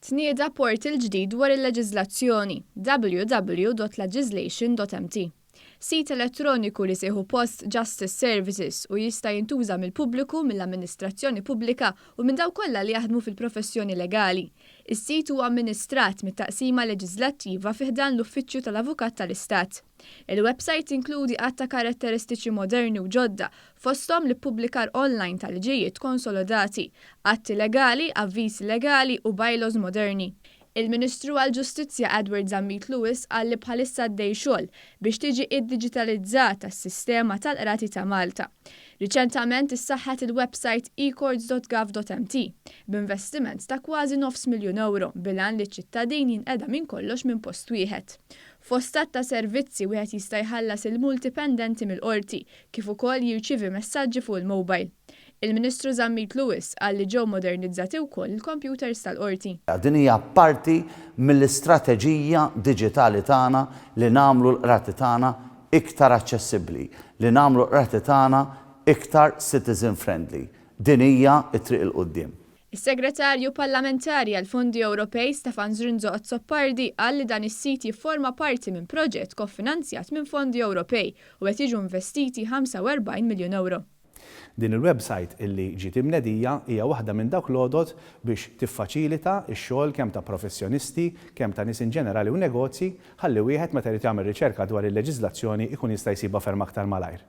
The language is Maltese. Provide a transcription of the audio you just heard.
Tnieda portal ġdid dwar il-leġiżlazzjoni, www.lagislation.mt. Sit elettroniku li se jieħu post Justice Services u jista' jintuża mill-pubbliku, mill-amministrazzjoni pubblika u minn dawk kollha li jaħdmu fil-professjoni legali. Is-sit huwa amministrat mit-Taqsima Leġiżlattiva fi ħdan l-Uffiċċju tal-Avukat tal-Istat. Il-websajt tinkludi għadd ta' karatteristiċi moderni u ġodda fosthom l-ippubblikar online ta' liġijiet konsolodati, atti legali, avviżi legali u bylaws moderni. Il-Ministru għall-Ġustizzja Edward Zammit Lewis qal li bħalissa għaddej xogħol biex tiġi iddiġitalizzata s-sistema tal-Qrati ta' Malta. Riċentament issaħħet il-websajt ecourts.gov.mt b'investiment ta' kważi nofs miljun ewro bil-għan li ċ-ċittadin jinqeda minn kollox minn post wieħed. Fost għadd ta' servizzi wieħed jista' jħallas il-multi pendenti mill-Qorti, kif ukoll jirċievi messaġġi fuq il-mowbajl. Il-Ministru Zammit Lewis qal li ġew modernizzati wkoll il-kompjuters tal-Qorti. Din hija parti mill-istrateġija diġitali tagħna li nagħmlu l-Qrati tagħna iktar aċċessibbli, li nagħmlu l-Qrati tagħna iktar citizen friendly. Din hija t-triq 'il quddiem. Is-Segretarju Parlamentari għall-Fondi Ewropej Stefan Zrinzo Azzopardi qal li dan is-sit jifforma parti minn proġett kofinanzjat minn fondi Ewropej u qed jiġu investiti 45 miljun ewro. Din il-websajt illi ġiet imnedija hija waħda minn dawk l-għodod biex tiffaċilita x-xogħol kemm ta' professjonisti, kemm ta' nies inġenerali u negozji, ħalli wieħed meta jrid jagħmel riċerka dwar il-leġiżlazzjoni jkun jista' jsibha ferm aktar malajr.